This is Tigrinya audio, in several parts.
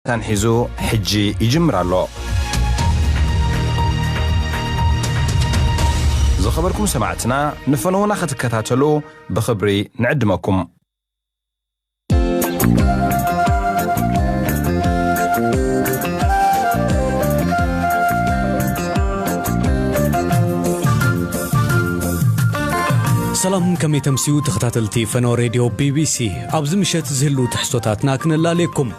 መታን ሒዙ ሕጂ ይጅምር ኣሎ። ዝኸበርኩም ሰማዕትና ንፈነዉና ክትከታተሉ ብኽብሪ ንዕድመኩም። ሰላም ከመይ ተምስዩ ተኸታተልቲ ፈነወ ሬድዮ ቢቢሲ ኣብዚ ምሸት ዝህልው ትሕዝቶታትና ክነላልየኩም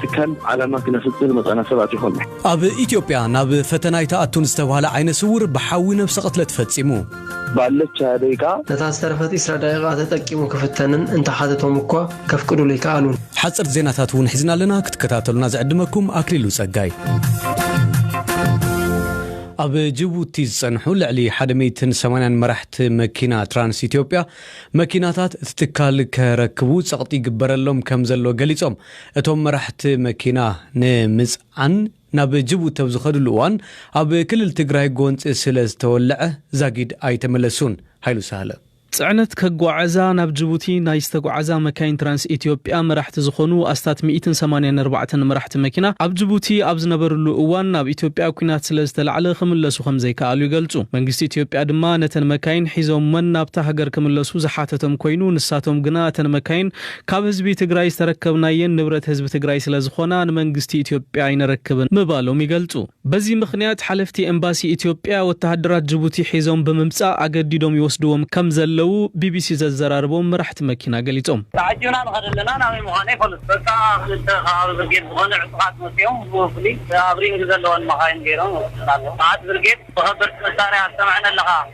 ትካል ዓላማ ክነፍጽም ዝመጻና ሰባት ይኾና። ኣብ ኢትዮጵያ ናብ ፈተና ኣይትኣቱን ዝተብሃለ ዓይነ ስውር ብሓዊ ነብሰ ቅትለት ፈጺሙ። ባለቻ ደቂቃ። ነታ ዝተረፈት ኢስራ ደቂቃ ተጠቂሙ ክፍተንን እንተሓተቶም እኳ ከፍቅዱሉ ኣይከኣሉን። ሓጸርቲ ዜናታት እውን ሒዝና ኣለና ክትከታተሉና ዝዕድመኩም ኣክሊሉ ጸጋይ። ኣብ ጅቡቲ ዝጸንሑ ልዕሊ ሓደ ሚእትን ሰማንያን መራሕቲ መኪና ትራንስ ኢትዮጵያ መኪናታት እቲ ትካል ከረክቡ ጸቕጢ ይግበረሎም ከም ዘሎ ገሊጾም። እቶም መራሕቲ መኪና ንምፅዓን ናብ ጅቡቲ ኣብ ዝኸድሉ እዋን ኣብ ክልል ትግራይ ጎንፂ ስለዝተወለዐ ዛጊድ ኣይተመለሱን፣ ሃይሉ ሳህለ። ፅዕነት ከጓዕዛ ናብ ጅቡቲ ናይ ዝተጉዓዛ መካይን ትራንስ ኢትዮጵያ መራሕቲ ዝኾኑ ኣስታት ሚኢትን ሰማንያን ኣርባዕተን መራሕቲ መኪና ኣብ ጅቡቲ ኣብ ዝነበርሉ እዋን ኣብ ኢትዮጵያ ኲናት ስለዝተላዕለ ክምለሱ ከምዘይከኣሉ ይገልፁ። መንግስቲ ኢትዮጵያ ድማ ነተን መካይን ሒዞመን ናብታ ሃገር ክምለሱ ዝሓተቶም ኮይኑ ንሳቶም ግና እተን መካይን ካብ ህዝቢ ትግራይ ዝተረከብናየን ንብረት ህዝቢ ትግራይ ስለዝኾና ንመንግስቲ ኢትዮጵያ ኣይነረክብን ምባሎም ይገልፁ። በዚ ምኽንያት ሓለፍቲ ኤምባሲ ኢትዮጵያ ወተሃደራት ጅቡቲ ሒዞም ብምምፃእ ኣገዲዶም ይወስድዎም ከምዘለዉ ቢቢሲ ዘዘራረቦም መራሕቲ መኪና ገሊፆም። ተዓጂብና ንኸድ ኣለና ናበይ ምዃኑ ኣይፈሉን በቃ ኣብ ክልተ ከባቢ ብርጌድ ዝኾኑ ዕጡቓት መፂኦም ብፍሉይ ኣብ ሪንግ ዘለወን መኻይን ገይሮም ይወስዱና ኣለዉ መዓት ብርጌድ ብኸበድቲ መሳርያ ኣስተምዐን ኣለኻ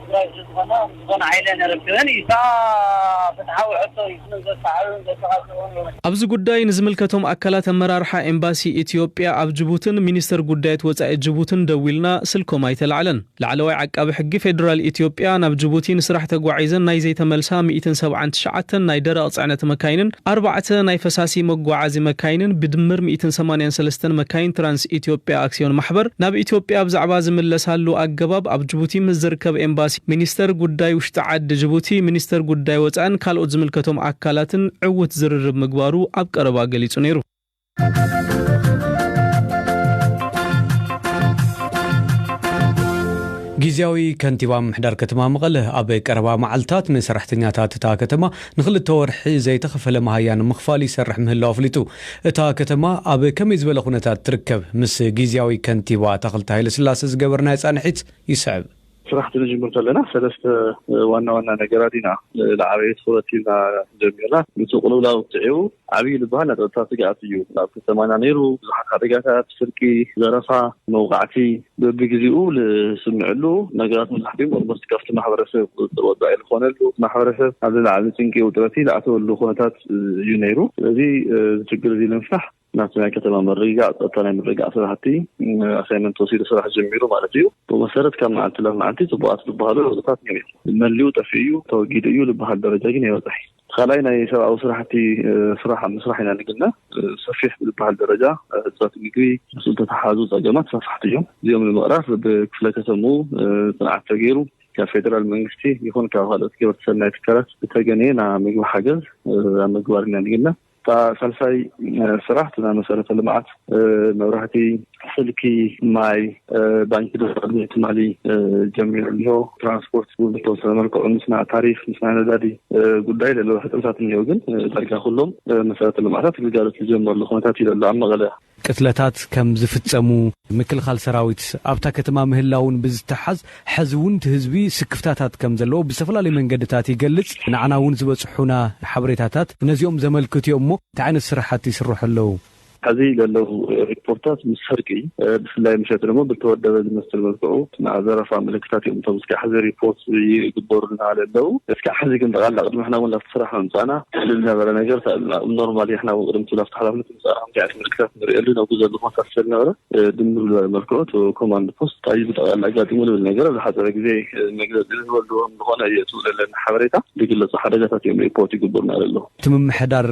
ትግራይ ስለዝኾና ዝኾነ ሓይለን ኣረክበን እዩ እታ ፍትሓዊ ሕቶ እዩ ስለ ዘሳዕብን ዘተቃጽዑን እዩ። ኣብዚ ጉዳይ ንዝምልከቶም ኣካላት ኣመራርሓ ኤምባሲ ኢትዮጵያ ኣብ ጅቡትን ሚኒስተር ጉዳያት ወጻኢ ጅቡትን ደዊልና ስልኮም ኣይተላዕለን። ላዕለዋይ ዓቃቢ ሕጊ ፌደራል ኢትዮጵያ ናብ ጅቡቲ ንስራሕ ተጓዒዘን ናይ ዘይተመልሳ ሚእትን ሰብዓን ትሽዓተን ናይ ደረቕ ጽዕነት መካይንን ኣርባዕተ ናይ ፈሳሲ መጓዓዚ መካይንን ብድምር ሚእትን ሰማንያን ሰለስተን መካይን ትራንስ ኢትዮጵያ ኣክስዮን ማሕበር ናብ ኢትዮጵያ ብዛዕባ ዝምለሳሉ ኣገባብ ኣብ ጅቡቲ ምስ ዝርከብ ኤምባሲ፣ ሚኒስተር ጉዳይ ውሽጢ ዓዲ ጅቡቲ፣ ሚኒስተር ጉዳይ ወጻእን ካልኦት ዝምልከቶም ኣካላትን ዕዉት ዝርርብ ምግባሩ ኣብ ቀረባ ገሊጹ ነይሩ። ጊዚያዊ ከንቲባ ምምሕዳር ከተማ መቐለ ኣብ ቀረባ መዓልታት ንሰራሕተኛታት እታ ከተማ ንክልተ ወርሒ ዘይተኸፈለ መሃያ ንምኽፋል ይሰርሕ ምህላው ኣፍሊጡ። እታ ከተማ ኣብ ከመይ ዝበለ ኩነታት ትርከብ? ምስ ጊዚያዊ ከንቲባ ኣታኽልቲ ሃይለስላሰ ዝገበርናዮ ፃንሒት ይስዕብ። ስራሕ እንትንጅምር ከለና ሰለስተ ዋና ዋና ነገራት ኢና ዝዓበየ ትኹረት ሂብና ጀሚርና። ኑቲ ቅልውላው ስዒቡ ዓብዪ ዝበሃል ናይ ፀጥታ ስግኣት እዩ ኣብ ከተማና ነይሩ። ብዙሓት ሓደጋታት፣ ስርቂ፣ ዘረፋ፣ መውቓዕቲ፣ በብግዜኡ ዝስምዕሉ ነገራት መብዛሕቲኦም ኦልሞስት ካብቲ ማሕበረሰብ ቁፅፅር ወፃኢ ዝኾነሉ ማሕበረሰብ ኣብ ዝለዓለ ጭንቂ ውጥረቲ ዝኣተወሉ ኩነታት እዩ ነይሩ። ስለዚ እዚ ችግር እዚ ንምፍታሕ ናብቲ ናይ ከተማ ምርግጋእ ፀጥታ ናይ ምርግጋእ ስራሕቲ ኣሳይመንት ተወሲዱ ስራሕ ጀሚሩ ማለት እዩ። ብመሰረት ካብ መዓልቲ ናብ መዓልቲ ፅቡቓት ዝበሃሉ ለውጥታት ነይሩ እዩ። መሊኡ ጠፊኡ እዩ ተወጊዱ እዩ ዝበሃል ደረጃ ግን ኣይበፅሐይ። ካልኣይ ናይ ሰብኣዊ ስራሕቲ ስራሕ ኣብ ምስራሕ ኢና ንግና ሰፊሕ ብዝበሃል ደረጃ ህፅረት ምግቢ ምስ ዝተተሓዙ ፀገማት ሰፋሕቲ እዮም እዚኦም ንምቕራፍ ብክፍለ ከተሙ ፅንዓት ተገይሩ ካብ ፌደራል መንግስቲ ይኹን ካብ ካልኦት ገበርቲ ሰናይ ትካላት ዝተገነየ ናይ ምግቢ ሓገዝ ኣብ ምግባር ኢና ንግና እታ ሳልሳይ ስራሕ እቲ ናይ መሰረተ ልምዓት መብራህቲ፣ ስልኪ፣ ማይ፣ ባንኪ ድማ ቅድሚ ትማሊ ጀሚሩ እኒሆ። ትራንስፖርት እውን ብተወሰነ መልክዑ ምስ ናይ ታሪፍ ምስ ናይ ነዳዲ ጉዳይ ዘለዉ ሕፅረታት እኒሆ። ግን ዳርጋ ኩሎም መሰረተ ልምዓታት ግልጋሎት ዝጀመርሉ ኩነታት እዩ ዘሎ ኣብ መቐለ። ቅትለታት ከም ዝፍፀሙ፣ ምክልኻል ሰራዊት ኣብታ ከተማ ምህላዉን ብዝተሓዝ ሐዚ ዉን እቲ ህዝቢ ስክፍታታት ከም ዘለዎ ብዝተፈላለዩ መንገድታት ይገልፅ። ንዓና ዉን ዝበፅሑና ሓበሬታታት ነዚኦም ዘመልክቱ እዮም እሞ እንታይ ዓይነት ስራሕቲ ይስርሑ ኣለዉ? ሐዚ ዘለዉ ሪፖርታት ምስ ስርቂ ብፍላይ ምሸት ደሞ ብልተወደበ ዝመስል መልክዑ ናይ ዘረፋ ምልክታት እዮም እቶም እስካዕ ሐዚ ሪፖርት ይግበሩልና ለለዉ። እስካዕ ሐዚ ግን ጠቅላላ ቅድሚ ንሕና ዉን ላብቲ ስራሕ ምምፃእና ዝነበረ ነገር ተእልና ኖርማል ንሕና ዉን ቅድም እቲ ላብቲ ሓላፍነት ዚኣት ምልክታት ንርእየሉ ናብ ጉዘ ልኾታት ሰልነበረ ድምር ዝበለ መልክዑ እቲ ኮማንድ ፖስት ታይ ብጠቕላላ ኣጋጢሙ ዝብል ነገር ዝሓፀረ ግዜ መግለፂ ዝህበሉ ዝኾነ እዩ እቲ ዘለኒ ሓበሬታ ዝግለፁ ሓደጋታት እዮም ሪፖርት ይግበሩና ኣለዉ። እቲ ምምሕዳር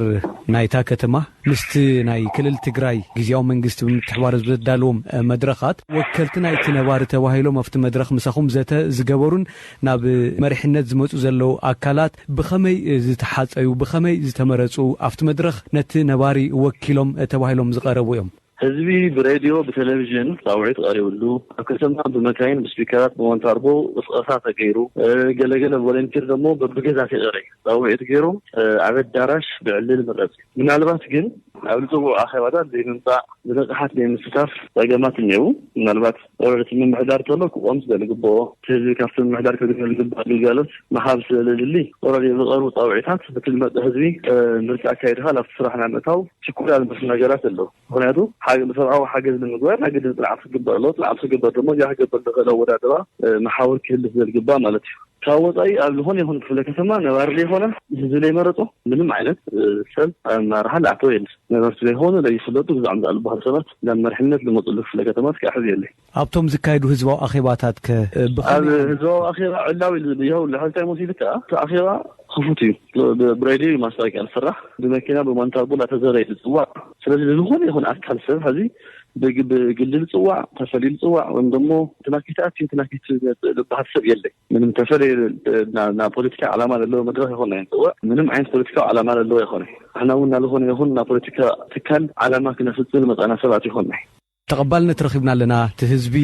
ናይታ ከተማ ምስቲ ናይ ክልል ትግራይ ግዝያዊ መንግስቲ ብምትሕብባር ኣብ ዘዳለዎም መድረኻት ወከልቲ ናይቲ ነባሪ ተባሂሎም ኣብቲ መድረኽ ምሳኹም ዘተ ዝገበሩን ናብ መሪሕነት ዝመጹ ዘለዉ ኣካላት ብኸመይ ዝተሓጸዩ፣ ብኸመይ ዝተመረጹ፣ ኣብቲ መድረኽ ነቲ ነባሪ ወኪሎም ተባሂሎም ዝቐረቡ እዮም። ህዝቢ ብሬድዮ፣ ብቴሌቪዥን ጻውዒት ቐሪብሉ፣ ኣብ ከተማ ብመካይን፣ ብስፒከራት፣ ብሞንታርቦ ቕስቐሳ ተገይሩ፣ ገለ ገለ ቮለንቲር ደሞ በብገዛ ቴቐረ ጻውዒት ገይሮም ኣብ ኣዳራሽ ብዕልል ምረጽ። ምናልባት ግን ናብ ዝጽውዑ ኣኼባታት ዘይምምጻእ፣ ብንቕሓት ዘይምስታፍ ጸገማት እኔዉ። ምናልባት ወረርቲ ምምሕዳር ተሎ ክቆም ስለ ዝግበኦ እቲ ህዝቢ ካብቲ ምምሕዳር ከግንዮሉ ዝግባእ ግልጋሎት ምሃብ ስለ ዘድሊ ወረርቲ ዝቐርቡ ፃውዒታት በቲ ዝመፀ ህዝቢ ምርጫ ኣካይድኻ ናብቲ ስራሕ ናይ ምእታው ችኮላ ዝመስሉ ነገራት ኣለዉ። ምኽንያቱ ሰብኣዊ ሓገዝ ንምግባር ናይ ግድን ፅንዓት ክግበር ኣለዎ። ፅንዓት ክግበር ድማ እዚኣ ክገብር ዝኽእል ኣወዳድባ መሓውር ክህሉ ስለ ዝግባእ ማለት እዩ። ካብ ወፃኢ ኣብ ዝኾነ ይኹን ክፍለ ከተማ ነባሪ ዘይኮነ ህዝቢ ዘይመረፆ ምንም ዓይነት ሰብ ኣብ ኣመራርሓ ዝኣተወ የለን። ነበርቲ ዘይኮኑ ዘይፍለጡ ግዝዖም ዝኣልባሃሉ ሰባት ናብ መርሕነት ልመፁሉ ክፍለ ከተማ እስኪ ኣሕዝየለይ። ኣብቶም ዝካየዱ ህዝባዊ ኣኼባታት ከ ብኸመይ ኣብ ዓመት? ህዝባዊ ኣኼባ ዕላዊ የብሉን። ሕዚ እንታይ መሲሉ ከኣ እቲ ኣኼባ ክፉት እዩ። ብ ብሬድዮ እዩ ማስታወቂያ ዝስራሕ። ብመኪና ብማንታጉ እናተዘረ እዩ ዝጽዋዕ። ስለዚ ንዝኾነ ይኹን ኣካል ሰብ ሕዚ ብግ ብግሊ ዝጽዋዕ፣ ተፈልዩ ዝጽዋዕ ወይም ደሞ እንትና ከይትኣቱ እንትና ከይትመጽእ ዝበሃል ሰብ የለን። ምንም ተፈለየ ናብ ፖለቲካ ዓላማ ዘለዎ መድረኽ ይኾን ኣይንፅወዕ ምንም ዓይነት ፖለቲካዊ ዓላማ ዘለዎ ይኾነ ንሕና እውን ናዝኾነ ይኹን ናብ ፖለቲካ ትካል ዓላማ ክነፍፅም ዝመፃእና ሰባት ይኾንናይ ተቐባልነት ረኺብና ኣለና እቲ ህዝቢ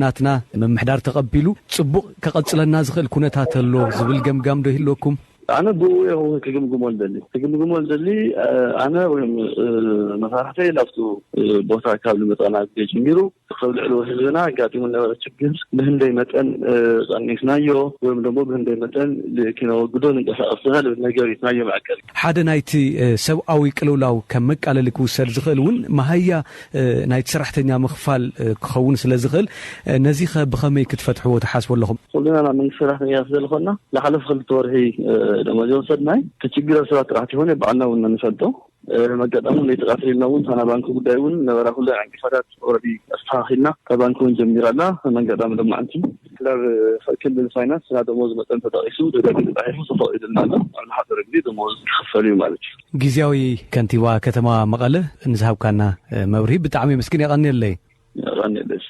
ናትና ምምሕዳር ተቐቢሉ ፅቡቕ ከቐፅለና ዝኽእል ኩነታት ኣሎ ዝብል ገምጋም ዶ ይህልወኩም? ኣነ ብኡ እየ ክግምግሞ ዝደሊ ክግምግሞ ዝደሊ ኣነ ወይ መሳርሕተይ ናብቱ ቦታ ካብ ዝመፃእና ግዜ ጀሚሩ ኣብ ልዕሊ ህዝብና ኣጋጢሙ ዝነበረ ችግር ብህንደይ መጠን ቐኒስናዮ ወይም ደሞ ብህንደይ መጠን ኪነወግዶ ንንቀሳቐስ ኢና ልብል ነገር እዩ ናዮ መዐቀሊ። ሓደ ናይቲ ሰብኣዊ ቅልውላው ከም መቃለሊ ክውሰድ ዝኽእል እውን መሃያ ናይቲ ሰራሕተኛ ምኽፋል ክኸውን ስለ ዝኽእል ነዚኸ ብኸመይ ክትፈትሕዎ ትሓስቡ ኣለኹም? ኩልና ናይ መንግስቲ ሰራሕተኛ ስለ ዝኾንና ዝሓለፉ ክልተ ወርሒ ደሞዝ ኣይወሰድናን። እቲ ችግር ኣብ ሰባት ጥራሕ ተይኮነ ባዕልና እውን ንፈልጦ። መጋጣሚ ለይቲ ቃትር ኢልና እውን እታ ናይ ባንኪ ጉዳይ እውን ነበራ ኩለ ዕንቅፋታት ኦረዲ ኣስተኻኺልና እታ ባንኪ እውን ጀሚራ ኣላ መንጋጣሚ ሎማዕንቲ ክላብ ክልል ፋይናንስ ናይ ደሞዝ መጠን ተጠቒሱ ደጋጊ ተጣሒፉ ተፈቒዱልና ኣሎ ኣብ ዝሓፀረ ግዜ ደሞዝ ክኽፈል እዩ ማለት እዩ ጊዜያዊ ከንቲባ ከተማ መቐለ ንዝሃብካና መብርሂ ብጣዕሚ የመስግን የቐንየለይ የቐንየለይ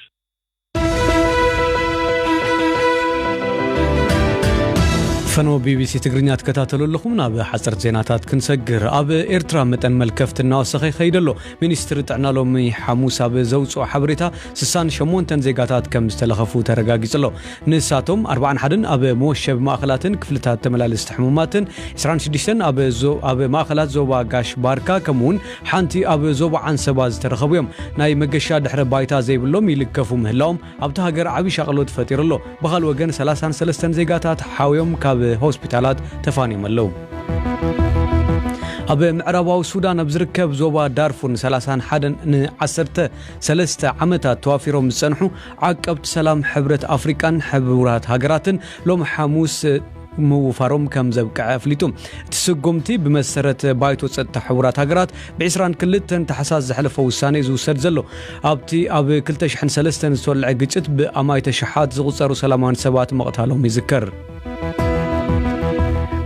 ፈነወ ቢቢሲ ትግርኛ ትከታተሉ ኣለኹም ናብ ሓፀርቲ ዜናታት ክንሰግር ኣብ ኤርትራ መጠን መልከፍቲ እናወሰኸ ይኸይድ ኣሎ ሚኒስትሪ ጥዕና ሎሚ ሓሙስ ኣብ ዘውፅኦ ሓበሬታ 68 ዜጋታት ከም ዝተለኸፉ ተረጋጊጹ ኣሎ ንሳቶም 41 ኣብ መወሸቢ ማእኸላትን ክፍልታት ተመላለስቲ ሕሙማትን 26 ኣብ ማእኸላት ዞባ ጋሽ ባርካ ከምኡውን ሓንቲ ኣብ ዞባ ዓንሰባ ዝተረኸቡ'ዮም። ናይ መገሻ ድሕረ ባይታ ዘይብሎም ይልከፉ ምህላዎም ኣብታ ሃገር ዓቢ ሻቕሎት ፈጢሩ ኣሎ። ብኻልእ ወገን ሰላሳን ሰለስተን ዜጋታት ሓውዮም ካብ ሆስፒታላት ተፋንዮም ኣለዉ። ኣብ ምዕራባዊ ሱዳን ኣብ ዝርከብ ዞባ ዳርፉር ንሰላሳን ሓደን ንዓሰርተ ሰለስተ ዓመታት ተዋፊሮም ዝጸንሑ ዓቀብቲ ሰላም ሕብረት ኣፍሪቃን ሕቡራት ሃገራትን ሎሚ ሓሙስ ምውፋሮም ከም ዘብቅዐ ኣፍሊጡ። እቲ ስጉምቲ ብመሰረት ባይቶ ጸጥታ ሕቡራት ሃገራት ብ ዕስራን ክልተን ታሕሳስ ዘሕለፎ ውሳነ እዩ ዝውሰድ ዘሎ። ኣብቲ ኣብ ክልተ ሽሕን ሰለስተን ዝተወልዐ ግጭት ብ ኣማኢተ ሽሓት ዝቑጸሩ ሰላማውያን ሰባት ምቕታሎም ይዝከር።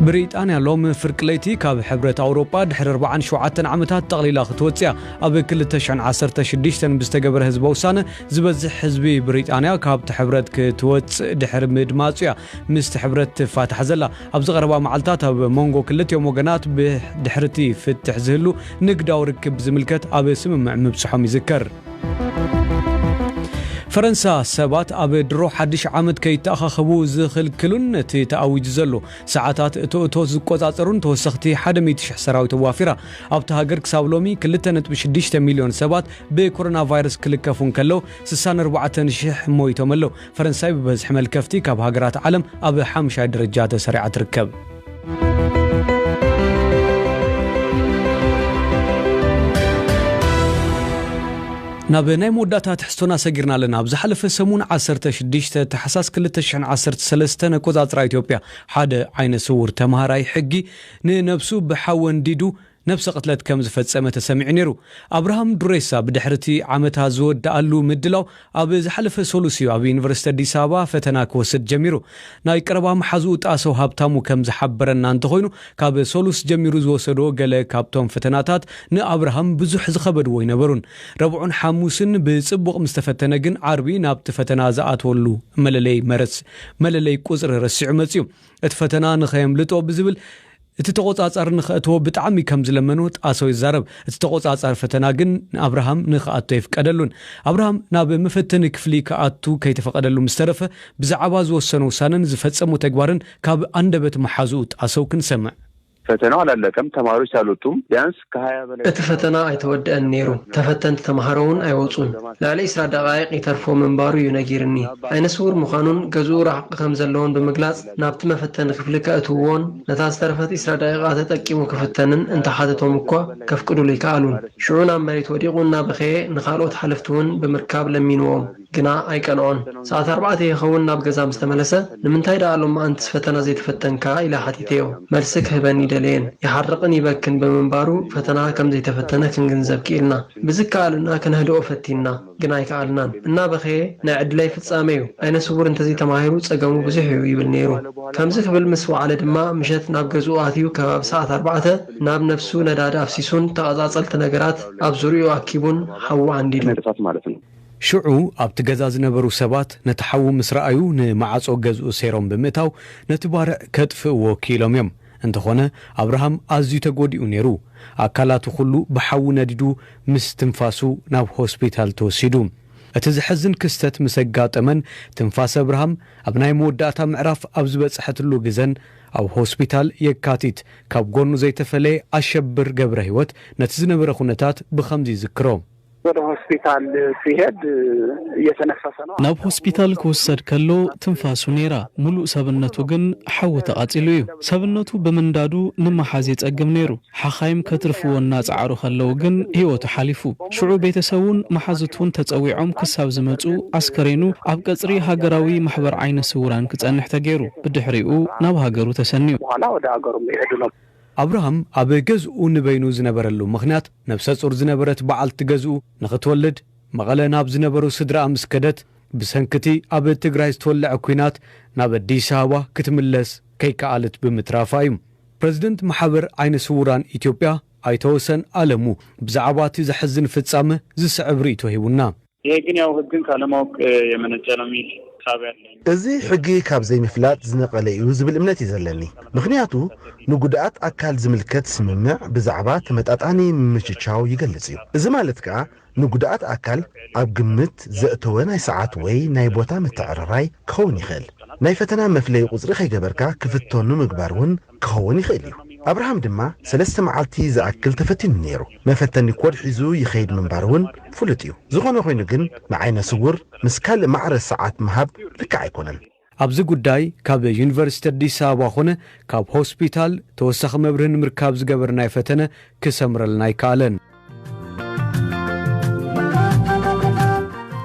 ብሪጣንያ ሎሚ ፍርቂ ለይቲ ካብ ሕብረት ኣውሮጳ ድሕሪ ኣርባዓን ሸውዓተን ዓመታት ጠቕሊላ ክትወጽእ እያ። ኣብ ክልተ ሽሕን ዓሰርተ ሽዱሽተን ብዝተገበረ ህዝበ ውሳነ ዝበዝሕ ህዝቢ ብሪጣንያ ካብቲ ሕብረት ክትወጽእ ድሕሪ ምድማጹ እያ ምስቲ ሕብረት ትፋታሕ ዘላ። ኣብዚ ቀረባ መዓልታት ኣብ ሞንጎ ክልቲኦም ወገናት ብድሕሪቲ ፍትሕ ዝህሉ ንግዳዊ ርክብ ብዝምልከት ኣብ ስምምዕ ምብጽሖም ይዝከር። ፈረንሳ ሰባት ኣብ ድሮ ሓድሽ ዓመት ከይተኣኻኸቡ ዝኽልክሉን ነቲ ተኣዊጁ ዘሎ ሰዓታት እቶ እቶት ዝቆጻጸሩን ተወሰኽቲ ሓደ ሚእቲ ሽሕ ሰራዊት ኣዋፊራ። ኣብታ ሃገር ክሳብ ሎሚ ክልተ ነጥቢ ሽዱሽተ ሚልዮን ሰባት ብኮሮናቫይረስ ክልከፉ እንከለው ስሳን ኣርባዕተን ሽሕ ሞይቶም ኣለው። ፈረንሳይ ብበዝሒ መልከፍቲ ካብ ሃገራት ዓለም ኣብ ሓምሻይ ደረጃ ተሰሪዓ ትርከብ። ናብ ናይ መወዳእታ ትሕዝቶና ሰጊርና ኣለና ኣብ ዝሓለፈ ሰሙን 16 ታሕሳስ 213 ኣቆፃፅራ ኢትዮጵያ ሓደ ዓይነ ስውር ተምሃራይ ሕጊ ንነብሱ ብሓዊ ኣንዲዱ ነብሰ ቅትለት ከም ዝፈጸመ ተሰሚዑ ነይሩ። ኣብርሃም ዱሬሳ ብድሕሪ እቲ ዓመታ ዝወደኣሉ ምድላው ኣብ ዝሓለፈ ሰሉስ እዩ ኣብ ዩኒቨርሲቲ ኣዲስ ኣበባ ፈተና ክወስድ ጀሚሩ። ናይ ቀረባ መሓዝኡ ጣሰው ሃብታሙ ከም ዝሓበረና እንተኾይኑ ካብ ሰሉስ ጀሚሩ ዝወሰዶ ገለ ካብቶም ፈተናታት ንኣብርሃም ብዙሕ ዝኸበድዎ ኣይነበሩን። ረቡዕን ሓሙስን ብጽቡቕ ምስ ተፈተነ ግን ዓርቢ ናብቲ ፈተና ዝኣትወሉ መለለይ መለለይ ቁጽሪ ረሲዑ መጺኡ። እቲ ፈተና ንኸየምልጦ ብዝብል እቲ ተቖጻጻሪ ንኸእትዎ ብጣዕሚ ከም ዝለመኖ ጣሰው ይዛረብ። እቲ ተቖጻጻሪ ፈተና ግን ንኣብርሃም ንኸኣቱ ኣይፍቀደሉን። ኣብርሃም ናብ መፈተኒ ክፍሊ ክኣቱ ከይተፈቐደሉ ምስ ተረፈ ብዛዕባ ዝወሰኖ ውሳነን ዝፈጸሞ ተግባርን ካብ ኣንደበት መሓዝኡ ጣሰው ክንሰምዕ። ፈተናው ኣላለቀም፣ ተማሪዎች ኣልወጡም፣ ቢያንስ ከሃያ በላይ እቲ ተማሃሮ ፈተና ኣልወጡም፣ ኣይተወደኣን ነይሩ፣ ተፈታኒ ግን ተፈተንቲ ኣልወጡም፣ ተማሃሮ እውን ተማሃሮ ኣልወጡም ኣይወጹን። ብዘለማ ልዕሊ ሰዓታት ናብቲ መፈተኒ ክፍሊ ከእትውዎን ነታ ዝተረፈት ዒስራ ደቒቓ ተጠቂሙ ክፍተንን እንተ ሓተቶም እኳ ከፍቅዱሉ ኣይከኣሉን። ሽዑ ናብ መሬት ወዲቑ እናበኸየ ንኻልኦት ሓለፍቲ'ውን ብምርካብ ለሚንዎም። ግና ኣይቀንዖን። ሰዓት ኣርባዕተ ይኸውን ናብ ገዛ ምስ ተመለሰ፣ ንምንታይ ደኣ ሎማኣንትስ ፈተና ዘይተፈተንካ? ኢለ ሓቲተዮ። መልሲ ክህበኒ ኣይደለየን። ይሓርቕን ይበክን ብምንባሩ ፈተና ከም ዘይተፈተነ ክንግንዘብ ክኢልና። ብዝከኣለና ከነህድኦ ፈቲንና። ግን ኣይከኣልናን እናበኸየ ናይ ዕድለይ ፍጻመ'ዩ፣ ዓይነ ስዉር እንተዘይ ተማሂሩ ጸገሙ ብዙሕ'ዩ ይብል ነይሩ። ከምዚ ክብል ምስ ወዓለ ድማ ምሸት ናብ ገዝኡ ኣትዩ ከባቢ ሰዓት ኣርባዕተ ናብ ነብሱ ነዳዲ ኣፍሲሱን ተቐጻጸልቲ ነገራት ኣብ ዙርያኡ ኣኪቡን ሓዊ ዓንዲዱ። ሽዑ ኣብቲ ገዛ ዝነበሩ ሰባት ነቲ ሓዊ ምስ ረኣዩ ንመዓጾ ገዝኡ ሰይሮም ብምእታው ነቲ ባርዕ ከጥፍእዎ ክኢሎም'ዮም። እንተኾነ ኣብርሃም ኣዝዩ ተጎዲኡ ነይሩ። ኣካላቱ ኩሉ ብሓዊ ነዲዱ ምስ ትንፋሱ ናብ ሆስፒታል ተወሲዱ። እቲ ዘሕዝን ክስተት ምስ ኣጋጠመን ትንፋስ ኣብርሃም ኣብ ናይ መወዳእታ ምዕራፍ ኣብ ዝበጽሐትሉ ግዘን ኣብ ሆስፒታል የካቲት ካብ ጎኑ ዘይተፈለየ ኣሸብር ገብረህይወት ነቲ ዝነበረ ኩነታት ብኸምዚ ይዝክሮ። ወደ ሆስፒታል ሲሄድ እየተነፈሰ ነው። ናብ ሆስፒታል ክውሰድ ከሎ ትንፋሱ ነይራ፣ ሙሉእ ሰብነቱ ግን ሓዊ ተቓፂሉ እዩ። ሰብነቱ ብምንዳዱ ንምሓዝ የፀግም ነይሩ። ሓኻይም ከትርፍዎ እናፀዓሩ ከለው ግን ህይወቱ ሓሊፉ። ሽዑ ቤተሰቡን መሓዙቱን ተፀዊዖም ክሳብ ዝመፅኡ ኣስከሬኑ ኣብ ቀፅሪ ሃገራዊ ማሕበር ዓይነ ስውራን ክፀንሕ ተገይሩ። ብድሕሪኡ ናብ ሃገሩ ተሰንዩ። ኣብርሃም ኣብ ገዝኡ ንበይኑ ዝነበረሉ ምኽንያት፣ ነብሰ-ጹር ዝነበረት በዓልቲ ገዝኡ ንኽትወልድ መቐለ ናብ ዝነበሩ ስድራኣ ምስ ከደት፣ ብሰንኪ'ቲ ኣብ ትግራይ ዝተወልዐ ኲናት ናብ ኣዲስ ኣበባ ክትምለስ ከይከኣለት ብምትራፋ እዩ። ፕረዚደንት ማሕበር ዓይነ ስዉራን ኢትዮጵያ ኣይተ ወሰን ኣለሙ፣ ብዛዕባ'ቲ ዘሕዝን ፍጻመ ዝስዕብ ርእይቶ ሂቡና። ይሄ ግን ያው ህግን ካለማወቅ የመነጨ ነው ሚል እሳቤ ኣለኝ። እዚ ሕጊ ካብ ዘይምፍላጥ ዝነቐለ እዩ ዝብል እምነት እዩ ዘለኒ። ምኽንያቱ ንጉዱኣት ኣካል ዝምልከት ስምምዕ ብዛዕባ ተመጣጣኒ ምምችቻው ይገልጽ እዩ። እዚ ማለት ከኣ ንጉዱኣት ኣካል ኣብ ግምት ዘእተወ ናይ ሰዓት ወይ ናይ ቦታ ምትዕርራይ ክኸውን ይኽእል። ናይ ፈተና መፍለዪ ቁጽሪ ከይገበርካ ክፍተኑ ምግባር እውን ክኸውን ይኽእል እዩ። ኣብርሃም ድማ ሰለስተ መዓልቲ ዝኣክል ተፈቲኑ ነይሩ። መፈተኒ ኮድ ሒዙ ይኸይድ ምንባሩ እውን ፍሉጥ እዩ። ዝኾነ ኾይኑ ግን ንዓይነ ስውር ምስ ካልእ ማዕረ ሰዓት ምሃብ ልክዕ ኣይኮነን። ኣብዚ ጉዳይ ካብ ዩኒቨርሲቲ ኣዲስ ኣበባ ኾነ ካብ ሆስፒታል ተወሳኺ መብርሂ ንምርካብ ዝገበርናዮ ፈተነ ክሰምረልና ኣይከኣለን።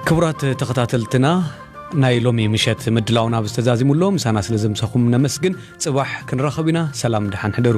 ክቡራት ተኸታተልትና ናይ ሎሚ ምሸት ምድላውና ኣብ ዝተዛዚሙሎ ምሳና ስለ ዘምሰኹም ነመስግን ጽባሕ ክንራኸብ ኢና ሰላም ድሓን ሕደሩ